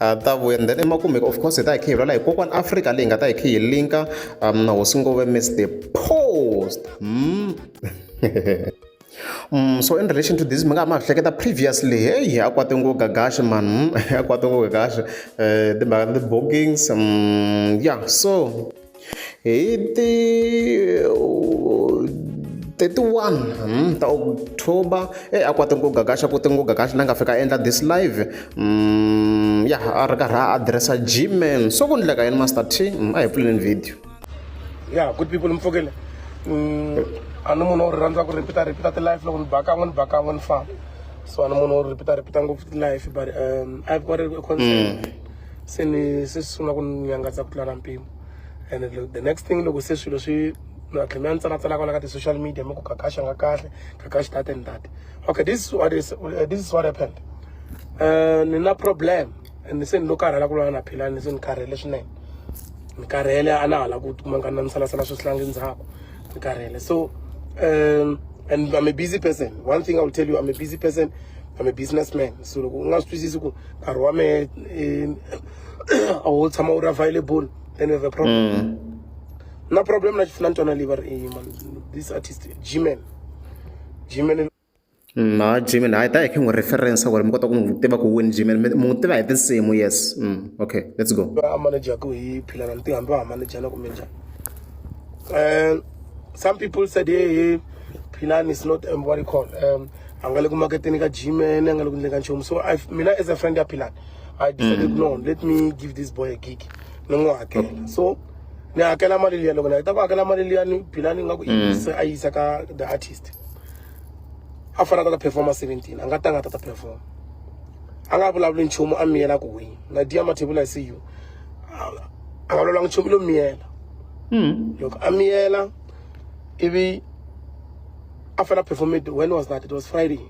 ha ta vuya and then emakumeka of course hi ta hi khe hi vulela hi kokwana afrika leyi nga ta hi khe hi linka um na hosi ngove miss the post mm. Mm, so in relation to this mi nga ha ma hleketa previously heyi a kwate ngo gagaxe man a kwate ngo gagaxe um timhaka ta ti-bookings um ya so hi ti 31 hmm, ta october e a kwate ku gagaxa ku tinguga kahle la nga fika endla this live mm, ya a ri karhi a addressa gmail so ku ndleka yini master t mm, a hi pfuleleni video ya good people mfokele mm, a ni munhu ri rhandza ku repeat repeat ti life loko ni ba kan'we ni ba kan'we ni famba so a ni munhu wo repeat repeat ngopfu ti life but um i've got a concern mm. se ni se swi sungula ku ni nyangatsa ku tlula mpimo and the next thing loko se swilo swi na tlhe mi ya ni tsalatsala kwala ka ti-social media mi ku kakaxa nga kahle kakaxi tate ni tate okay this is what is, uh, this is what happened uh, ni na problem and se ni lo karhala ku lwana na philani ni se ni karhele swinene ni karhele a na hala ku kuma nga na ni salasala swi sihlangi ndzhaku ni karhele so um, and i'm a busy person one thing i will tell you i'm a busy person I'm a businessman so loko u nga swi twisisi ku nkarhi wa mehe eh, a wu tshama wu ri available then you have a problem mm. na problem na na ntwana leyi va ri eh, man this artist gman gman na mm, gman hayi ta hi khe n'wi reference ku ri mi kota ku n'wi tiva ku win gman mi n'wi tiva hi tinsimu yes mm, okay let's go a manajaku hi philana ni tihambi va manajana kumbe njhani um some people said hey, hey philani is not um, what you call um, a nga le ku maketeni ka gym ene a nga le ku endleni ka nchumu so I- mina as a friend ya philani i decided no let me give this boy a gig ni n'wi hakela so ni hakela mali liya loko ni heta ku hakela mali liya ni philani nga ku i yise a yisa ka the artist a fana ta ta performa 17 a nga tanga ta ta performa a nga vulavuli nchumu a miyela ku wini na dia mathebula i see you a a nga vulavulanga nchumu lo miyela Mm. loko a miyela ivi after that performance when was that it was friday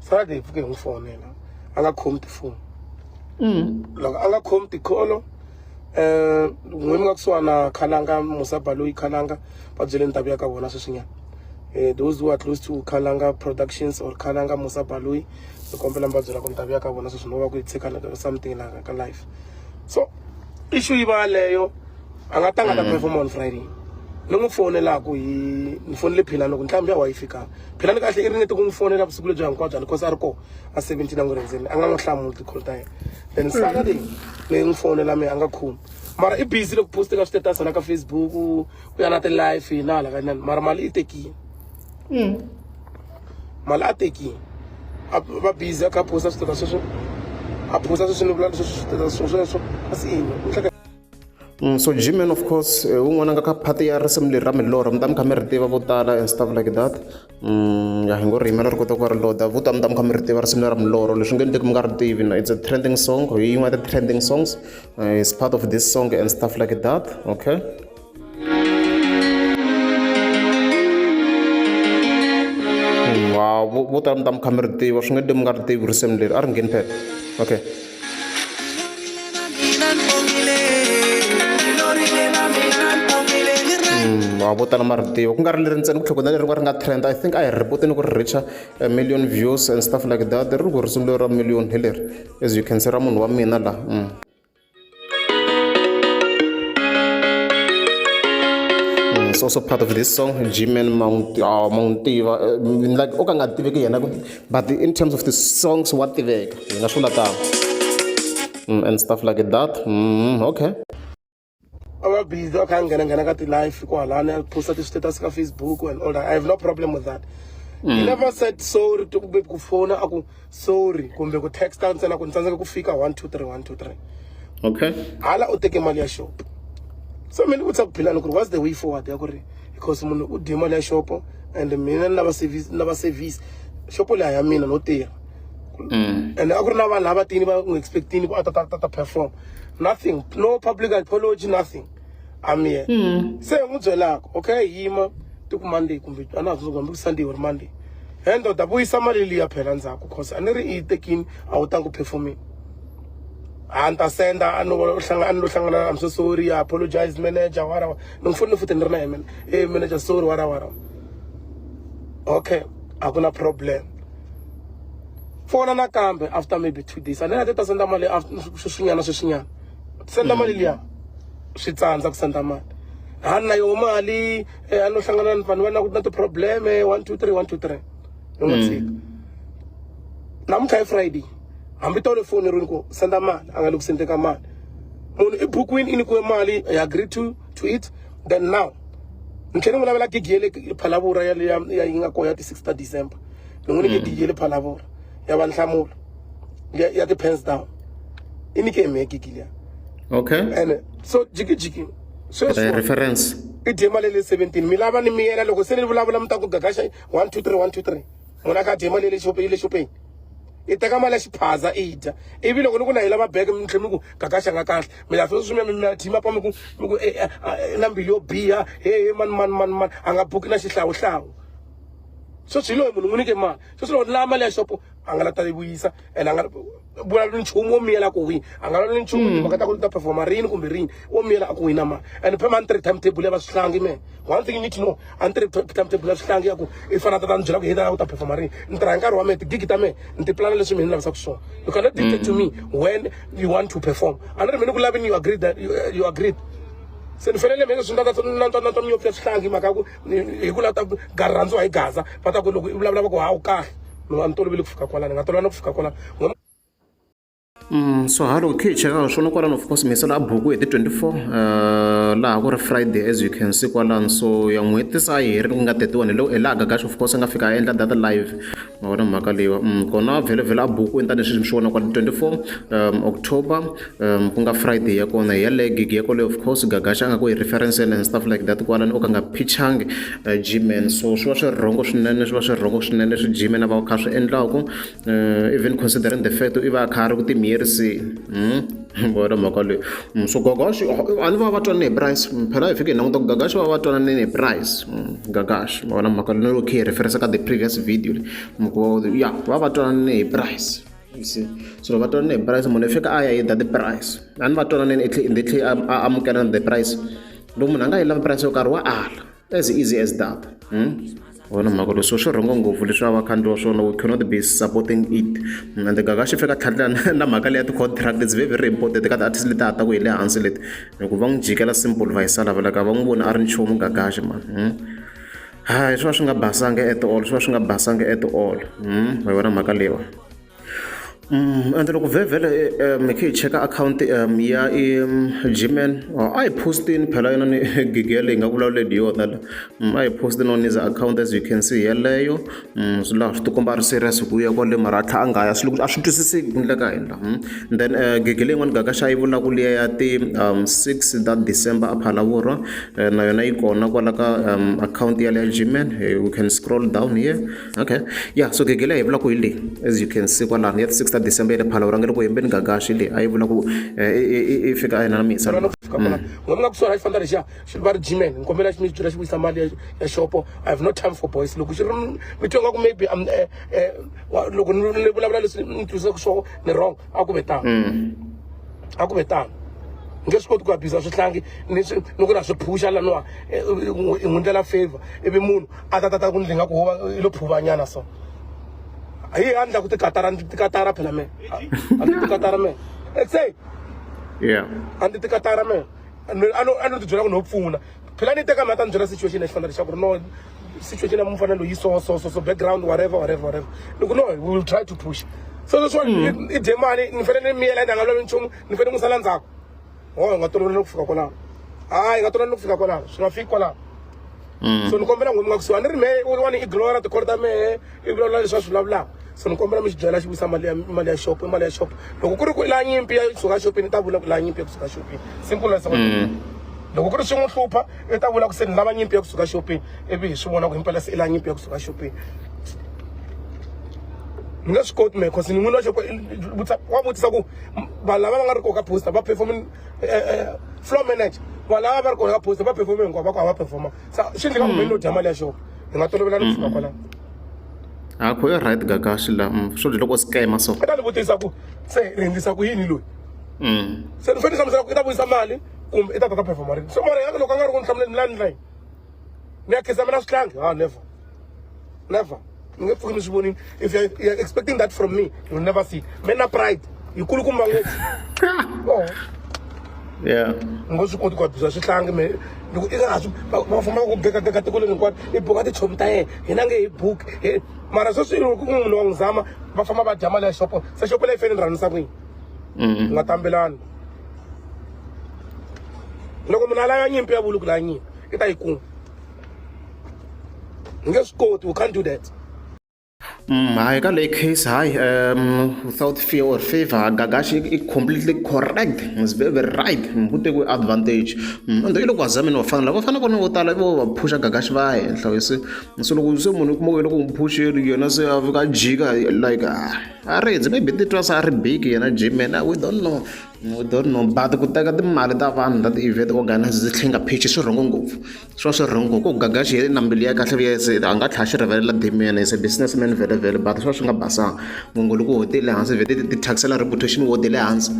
saturday hi pfuke hi n'wi fonela a nga khomi tifoni mm. loko a nga khomi tikholo um n'wi mi nga kusuhana khalanga musaba loyi khalanga va byele ndhavu ya ka vona sweswinyana um those who are close to khalanga productions or khalanga musaba loyi ni kombela mi va byela ku ndhavu ya ka vona sweswi no va ku yi tshika something laka ka life so issue yi va yaleyo a nga tanga ta perform on friday ni n'wi fonelaku hi ni fonele philani loko ntlhambi ya wa yi fika philani kahle i ringete ku n'wi fonela vusiku lebyi hinkwabyo ani cause a ri koho a seventeen a n'wi rindzeni a nga n'wi hlamuli tikholo ta yena then saturday ni n'wi fonela mehe a nga khumi mara i busy loko poste ka switatus na ka facebook u ya na ti-life hi na hala ka inani mara mali i tekile mali a tekile a va busy a kha a posta switatus sweswo a posta sweswo ni vula leswo switatus sweswo kasi ini u hleka So Gmen of course eh, un'wana nga ka part ya risimu leri ra milorho mi ta mi kha mi ri tiva vo tala and stuff like that mm, ya hi ngo ri yimela ri kota ku va ri loda vo tala mi ta mi kha mi ri tiva risimu leri ra milorho leswi nge ni teki mi nga ri tivi na it's a trending song hi yin'wana ya ti-trending songs eh, is part of this song and stuff like that okay wow vo tala mi ta mi kha mi ri tiva swi nge ni teki mi nga ri tivi risimu leri a ri ngheni phela okay wa vo tala ma ri tiva ku nga ri leri ntsena ku tlhogona leri nga ri nga trend i think a hi ri ripoti ni ku ri richa a million views and stuff like that ri ri ku risimu leri ra million hi leri as you can see ra munhu wa mina laha mm. is also part of this song, G-Man Mount, uh, Mountiva. Uh, like, okay, I'm not but the, in terms of the songs wa tiveka hi nga swi latanga mm, and stuff like that mm, okay a va busy a kha a nghenanghena ka ti-life ku halani a posta ti-status ka facebook and all that i have no problem with that mm. he never said sorry to kumbe ku fona a ku sorry kumbe ku texta ntsena ku ni tsandzeka ku fika one two three one two three okay hala u teke mali ya shop so mina ni vutisa ku philani ku ri what's the way forward ya ku ri because munhu u dye mali ya xopo and mina ni lava service ni lava service xopo leyi ya mina no tirha mm. and a ku ri na vanhu lava tini va n'wi expectini ku a ta ta ta perform nothing no public apology nothing I'm here mm. se n'wi byelaka okay yima ti ku monday kumbe a na ha tsundzuka hambi ku sunday or monday he ndoda vuyisa mali liya phela ndzhaku cause a ni ri i yi tekini a wu tangi ku performini a ni ta senda a ni lo hlangana i'm so sorry i apologize manager whatever ni n'wi fonile futhi ni ri na yena e manager sorry wara wara okay a ku na problem fona nakambe after maybe two days a ni nga te ta senda mali sweswinyana sweswinyana senda mali liya swi tsandza ku senda mali a ni na yoho mali eh, a no hlangana ni vanhu va na ku na ti-probleme one two three one two three ni n'wi tshika namuntlha i friday hambi tole foni ri ni ku senda mali a nga le ku sendeka mali munhu i bukwini i nyikiwe mali i agree to to it then now ni tlhele n'wi lavela gigi ya le phalavura ya ya yi nga koho ya ti-six ta december ni n'wi nike gigi ya le phalavura ya va nhlamulo ya ya ti-pens down i nike hi mehe gigi liya okay and so jikijiki sweswi reference i dye mali ya le seventeen mi lava ni miyela loko se ni vulavula mi ta ku gagaxa one two three one two three munhu a kha a dye mali ya le xopeni i teka mali ya xiphaza i dya ivi loko ni ku na yi lava beke mi tlhe mi ku kakaxa nga kahle mi la sweswi mi mi thima pa mi ku mi ku eh, eh, ah, eh, na mbilu yo biha hehe mani mani mani mani a nga buki na xihlawuhlawu sweswi hi loyi munhu n'wi nike mali sweswi loko ni lava mali ya xopo a nga la ta yi vuyisa and a nga vulavula nchumu wo miyela ku wini a nga vulavula nchumu hmm. timhaka ta ku ta performa rini kumbe rini wo miyela a ku wina mali and phe mani three time table ya va swihlangi me one thing you need to know a ni tirhi timetable ya swihlangi ya ku i fana tata ni byela ku hi ta u ta performa rini ni tirha hi nkarhi wa mehe tigigi ta mehe ni ti plana leswi mina ni lavisaka swona you cannot dictate to me when you want to perform a ni ri mina ku lavini you agreed that you, you agreed se ni fanele mina swi ndata nantswa nantswa miyopfu ya swihlangi mhaka ya ku hi ku lava ta gari rhandziwa hi gaza va ta ku loko i vulavula va ku hawu kahle mina a ni toloveli ku fika kwalani ni nga tolovana ku fika kwalani Mm, so halo khe cheka swona kwalano of course miselo a buku hi ti 24 uh, laha ku ri friday as you can see kwalano so ya n'hweti se a yi herile ku nga 31 hi hi laha gagax of course a nga fika a endla data live ma vona mhaka leyiwa mm, kona vhelovhelo a buku ni tanisweswi mi swi vona kwala 24 um, october um, ku nga friday ya kona hi yaleyo gig ya kwaleyo of course gagax a nga ku hi reference and stuff like that kwalano o ka nga pitchang uh, gman so swi va swi rhongo swinene swi va swi rhongo swinene leswi gman a va kha swi endlaku uh, even considering the fact i va a kha a ri ku timiyeriseni hmm? vona mhaka leyi hmm, so gagashi a ni va va twanane hi price hmm, phela hi fike hi languta ku gagashi va va twanane hi price gagashi vona mhaka leyi loko khe hi referensa ka the previous video leyi ya va va twanane hi price se so loko va twanane hi price munhu i fika a ya yida the price a ni va twananeni i tlhe i tlhe a amukela the price loko munhu a nga yi lavi price yo karhi wa ala as easy as that hmm? wona mhaka leswo swi rhongo ngopfu leswi a va khandziwa swona we cannot be supporting it hmm, and gaga xi fika tlhatlha na mhaka leyi ya ti-contract it's very very important ka ti-artist leti a ta ku hi le hansi leti hikuva va n'wi jikela simple va hi salavelaka va n'wi vona a ri nchumu gagaxi ma hmm? hayi swi va swi nga basanga at all swi va swi nga basanga at all hi vona mhaka leyiwa ende loko vhevhele hi khe hi cheka akhawunti ya i gman a hi postini phela yona ni gigi yaleyi hi nga vulavuleli hi yona la a hi postini on is account as you can see yeleyo swi laha swi tikomba ri serious hi ku ya kwale mara a tlha a nga ya swi loko a swi twisiseki ku ndle ka hina then gigi leyin'wani gaka xa yi vulaku liya ya ti six ta december a phalavurwa na yona yi kona kwala ka akhawunti ya le ya gman you can scroll down here okay ya so gege leyi hi vulaka hi leyi as you can see kwalano ya ti six ta december ya le phalawu rangele ku hembeni gagaxi leyi a yi vula ku eh, i fika a yena na misa mm. n'wanuna ku suhana xi famba lexiya xi va ri gman ni kombela xi mi byela xi vuyisa mali ya xopo i have no time for boys loko xi ri mi twa ingaku maybe um, eh, eh, loko ni vulavula leswi ni twisaka swona ni wrong a ku ve tano mm. a ku ve tano nge swi koti ku abhiza swihlangi ni ku na swi phusha laniwa i n'wi ndlela favor ivi munhu a ta tata ku ndzi nga ku va i lo phuvanyana so hi a ndla ku tikatara ndzi tikatara phela me a ndzi tikatara me it's say yeah a ndzi tikatara me a no a no ti byela ku no pfuna phela ni teka mi a ta ni byela situation lexi fanele leswaku ri no situation ya mufana loyi so so so so background whatever whatever whatever ni ku no we will try to push so leswiwani i dye mali ni fanele ni miyela ni nga lavi nchumu ni fanele ni n'wi sala ndzhaku o oh, hi nga toloveli no ku fika kwalaho hayi hi nga toloveli no ku fika kwalaho swi nga fiki kwalaho mm. so ni kombela n'wini nga kusuhani ri mehe un'wana i glora tikholo ta mehe i vulavula leswi a swi vulavulaka so ni kombela mi xi byela xi vuyisa mali ya mali ya xopo i mali ya xopo loko ku ri ku la nyimpi ya kusuka xopini i ta vula ku la nyimpi ya kusuka xopini simple as mm. loko ku ri swi n'wi hlupha i ta vula ku se ni lava nyimpi ya kusuka xopini ivi hi swi vona ku himpela se i la nyimpi ya kusuka xopini ni nga swi koti mehe cause ni n'wini wa xopo wa vutisa ku vanhu lava va nga ri koka poster va perform eh, eh, floor manager vanhu lava va ri koka poster va perform hinkwavo va ku hava performa se swi endleka kumbe no dya mali ya xona hi nga tolovela ni kusuka kwalano a kho yo right ka ka swi la mm, swo dya loko scam so ta ni vutisa ku se ri hindisa ku yini loyi mm. se ni fanele hlamusela ku i ta vuyisa mali kumbe i ta ta ta performa rini so mara ya loko a nga ri ku ni hlamuleni ni la ni layini ni ya khisamela swihlangi ha never Never. You get fucking morning. If you're, you're expecting that from me, you'll never see. Men are pride. You could come back. Oh. Yeah. Ngozi koti kwa bza swihlangi me loko i nga va famba ku beka beka tiko leri hinkwato i boka tichomi ta yena hina nge hi book mara sweswi loko ku munhu wa n'wi zama va famba va dya mali ya xopo se xopo leyi fanele rhanisa kwini mm-hmm. nga tambelani loko munhu a lava nyimpi ya vuluku la nyimpi i ta yi kuma u nge swi koti u can't do that Mm, hayi ka leyi case hayi um without fear or favor gagashi i completely correct is very very right ngikute kwi-advantage mm, ende iloko azamini vafana lava fana kona vo tala vo va phusha gagashi va henhla wese so loko se munhu kuma wena ku n'wi phuxeri yena se a fika jika like ah, a ri maybe titwa se a ri big yena jimena we don't know No do no ba ku teka timali ta vanhu ta ti-event organiser ndzi tlhinga pheji swi wrong ngopfu swi va swi wrong ku gaga xi heli na mbilu ya kahle vuya se a nga tlhela a xi rivalela dame as a business man vhele vhele but swi va swi nga basanga mongo loko wo tele hansi vhele ti thyakisela reputation wo tele hansi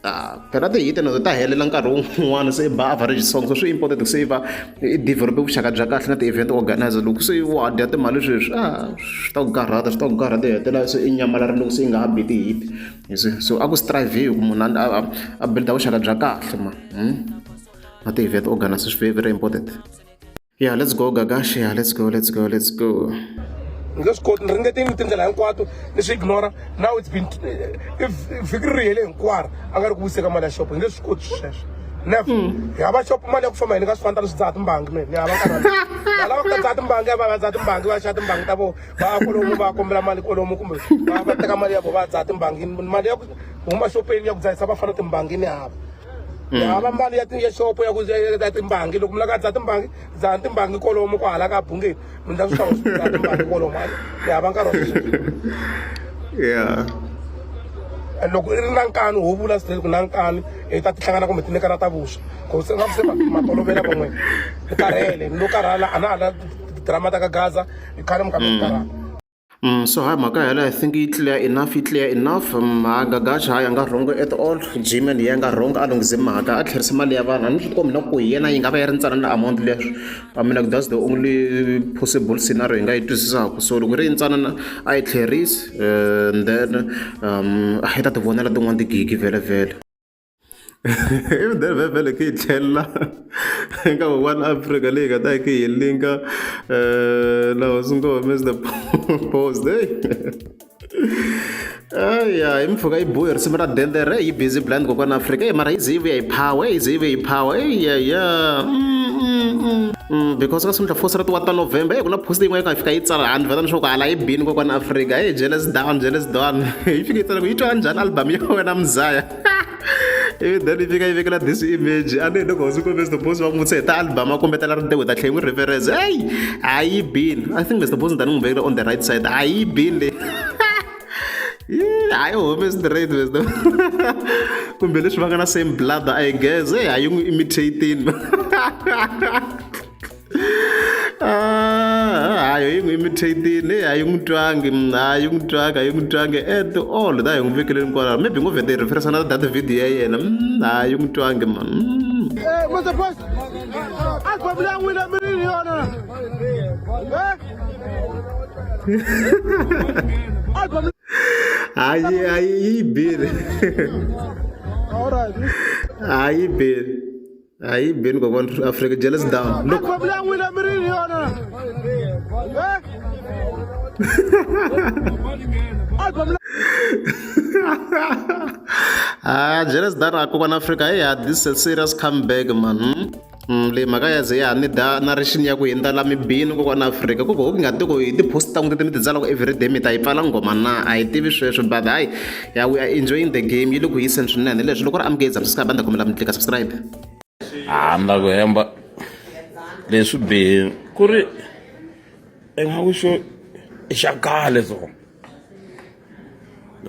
a phela ti hit na to ta helela nkarhi wun'wana se i ba average song so swi important ku saver i develop vuxaka bya kahle na ti-event organiser loko se wo a dya timali sweswi a swi ta ku karhata swi ta ku karhata u hetelela se i nyamalala loko se i nga ha bi ti-hit. you see so a ku strive-iwi ku munhu a a build-a vuxaka bya kahle ma hmm? na ti-event organise swi very very important yeah let's go gagashi yeah let's go let's go let's go ni nge swi koti ni ringeteni tindlela hinkwato ni swi ignora now it's been eh, vhiki ri rihele hinkwaro a nga ri ku wiseka mali ya xopo ni nge swi koti sweswo never hmm. hi hava xopo mali ya ku famba hi ni ka swi fanta ni swi dzaha timbangi mina ni hava nkarhi ni lava ku ta dzaha timbangi ya va va dzaha timbangi va xava timbangi ta vona va ya kolomu va kombela mali kolomu kumbe va va teka mali ya vo va dzaha timbangini mali ya ku huma xopeni ya ku dzahisa va fana timbangini hava mm. hava mali ya ya xopo ya ku ya timbangi loko mi laka dzaha timbangi dzaha timbangi kolomu ku hala ka bungeni mi ndla swi hlawula timbangi kolomu ni hava nkarhi wa sweswi yeah loko i ri na nkani ho vula swi ku na nkani hi ta tihlangana kumbe ti nyikana ta vuswa ku se nga ku se matolovela van'wini hi karhele ni lo karhala a na ha la drama ta ka gaza i khale mi khambi karhata Mm, so hi mhaka yela i think yi clear enough yi clear enough mm, ha gagaxa hayi a nga rhongo at all gman yi nga rhongo a lunghise mhaka a tlherisa mali ya vanhu a ni swi tikombi na ku hi yena yi nga va yi ri ntsana na amount leswi i mean like that's the only possible scenario hi nga yi twisisaka so loko ri yi ntsana na a yi tlherisi eh, and then um, a yi ta ti vonela tin'wana tigigi vhele vhele I mudende va fanele ku yi tlhelela eka one Africa leyi nga ta yi kha yi linka na hosi ngo Mister Boss hey aya hi mpfhuka yi bohe risimu ra dende re yi busy blind kokwana Africa hey mara yi ze yi vuya hi power yi ze yi vuya hi power eyaya because ka sungula fosi ra ti wa ta November hey ku na post yin'wana yi nga fika yi tsala handle vheta leswaku hala yi bini kokwana Africa hey jealous down jealous down yi fike yi tsala ku yi twa njhani album ya wena muzaya ivi then yi fika yi vekela this image a ni hi loko hosi kumbe mr boss va n'wi vutisa hi ta album a kombetela ri te with a tlhe n'wi reference eyi a yi bini i think mr boss ni ta ni n'wi vekela on the right side a yi bini leyi hayi home straight mr kumbe leswi va nga na same blood i guess eyi a yi n'wi imitating Ah, hayi hi mi theyitini a yi n'wi twangi a yi n'wi twanga a yi n'wi twangi at all da hi n'wi vekeleni kwalaho maybe ngo vheta hi referisa na data video ya yena mm, a yi n'wi twangi man mm. eh, Mr. Boss, album leyi n'wini a mi ri ni yona na? Eh? Album hayi hayi yi bile All right. hayi bile Ayi Ben ko wan Africa jealous down. Look. Apa bilang wina mirin yona. Ah, jealous down ako wan Africa. Yeah, this is a serious comeback man. Hmm? le mhaka ya ze ya ni da na rixini ya ku hindza la mibini ko kwana afrika ku ko ku nga ti ku hi ti-post ta n'wi ti mi ti tsala ku everyday mi ta yi pfala nghoma na a hi tivi sweswo but hayi Yeah, we are enjoying the game yi le ku yiseni swinene leswi loko ri amukeli subscribe a ni ta kombela mi tlika subscribe handa ku hemba leswi bihini ku ri ingaku xo i xa kale so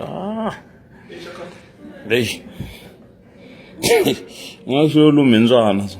ah. lexi nga xo lumhindzwana so